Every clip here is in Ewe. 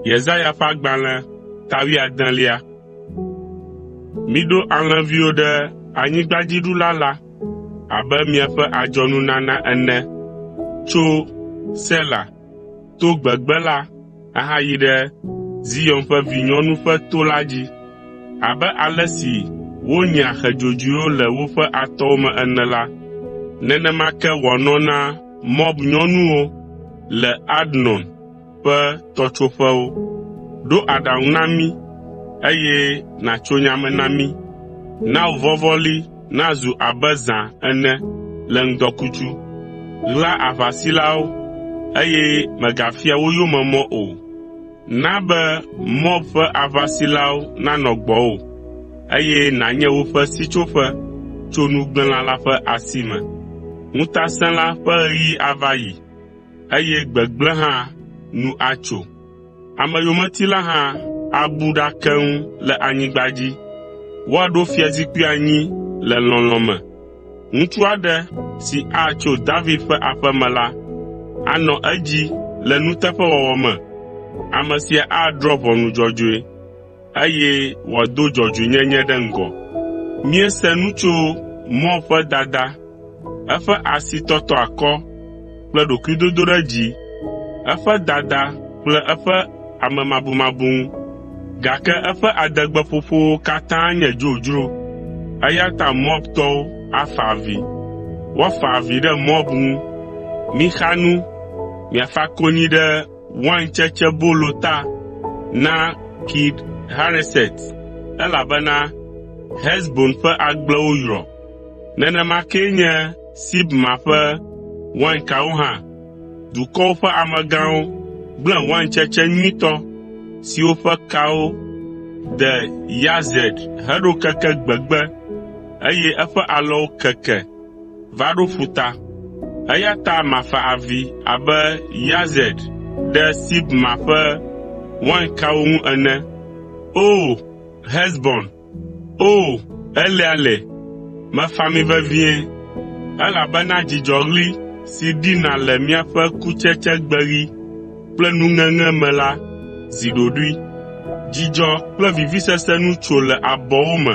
Yesaya ƒe agbalẽ ta wuiadelia. Miɖo alẽviwo ɖe anyigbadziɖula la abe miaƒe adzɔnunana ene tso Sela to gbegbe la ahayi ɖe Zion ƒe vinyɔnu ƒe to la dzi. Abe ale si wonyea xe dzodzoewo le woƒe atɔwo me ene la, nenema ke wòanɔ na Moab nyɔnuwo le Arnon ƒe tɔtsoƒewo. Ɖo aɖaŋu na mí, eye nàtso nya me na mí. Na wò vɔvɔli nazu abe zã ene le ŋdɔkutsu. Ɣla aʋasilawo, eye mègafia wo yome mɔ o. Na be Moab ƒe aʋasilawo nanɔ gbɔwò, eye nànye woƒe sitsoƒe tso nugblẽla la ƒe asi me. Ŋutasẽla ƒe ɣeyiɣi ava yi, eye gbegblẽ hã nu atso. Ameyometila hã abu ɖa keŋ le anyigba dzi. Woaɖo fiazikpui anyi le lɔlɔ̃ me. Ŋutsu aɖe si atso David ƒe aƒe me la, anɔ edzi le nuteƒewɔwɔ me. Ame sia adrɔ̃ ʋɔnu dzɔdzɔe. eye wòado dzɔdzɔenyenye ɖe ŋgɔ. Míese nu tso mɔ ƒe dada, eƒe asitɔtɔakɔ kple ɖokuidodoɖedzi, eƒe dada kple eƒe amemabumabu ŋu. Gake eƒe adegbeƒoƒowo katã nye dzodzro, eya ta Moabtɔwo afa avi. Woafa avi ɖe Moab ŋu. Mixa nu, miafa konyi ɖe waintsetsebolo ta na Kir Hareset, elabena Hesbon ƒe agblewo yrɔ. Nenema kee nye Sibma ƒe wainkawo hã. Dukɔwo ƒe amegãwo gblẽ waintsetse nyuitɔ siwo ƒe kawo de Yazer heɖo keke gbegbe, eye eƒe alɔwo keke. va ɖo ƒuta. Eya ta mafa avi abe Yazer ɖe Sibma ƒe wainkawo ŋu ene. O! Hesbon, O! Eleale, mefa mi vevie, elabena dzidzɔɣli si ɖina le miaƒe kutsetsegbeɣi kple nuŋeŋe me la zi ɖoɖoe. Dzidzɔ kple vivisese nu tso le abɔwo me.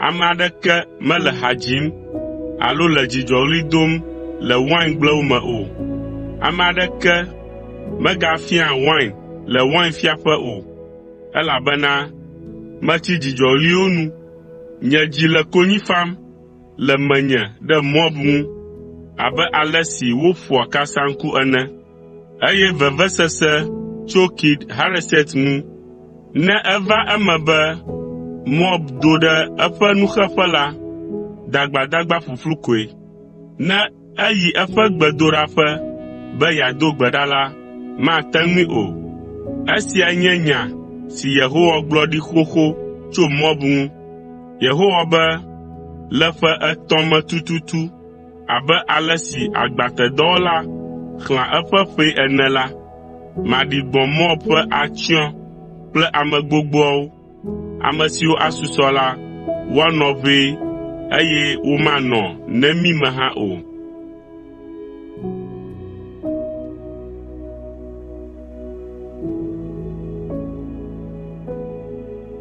Ame aɖeke mele ha dzim alo le dzidzɔɣli dom le waingblewo me o. Ame aɖeke megafiaa wain le wainfiaƒe o, elabena metsi dzidzɔɣliwo nu. Nye dzi le konyi fam le menye ɖe Moab ŋu abe ale si woƒoa kasaŋku ene. eye vevesese tso Kir Hareset ŋu. Ne eva eme be Moab do ɖe eƒe nuxeƒe la, dagbadagba ƒuƒlu koe. Ne eyi eƒe gbedoɖaƒe be yeado gbe ɖa la, mate ŋui o. Esia nye nya si Yehowa gblɔ ɖi xoxo tso Moab ŋu. Yehowa be, “Le ƒe etɔ̃ me tututu, Abe ale si agbatedɔwɔla xlẽa eƒe ƒee ene la, maɖi gbɔ̃ Moab ƒe atsyɔ̃ kple ame gbogboawo, ame siwo asusɔ la, woanɔ ʋɛ, eye womanɔ nemi me hã o.”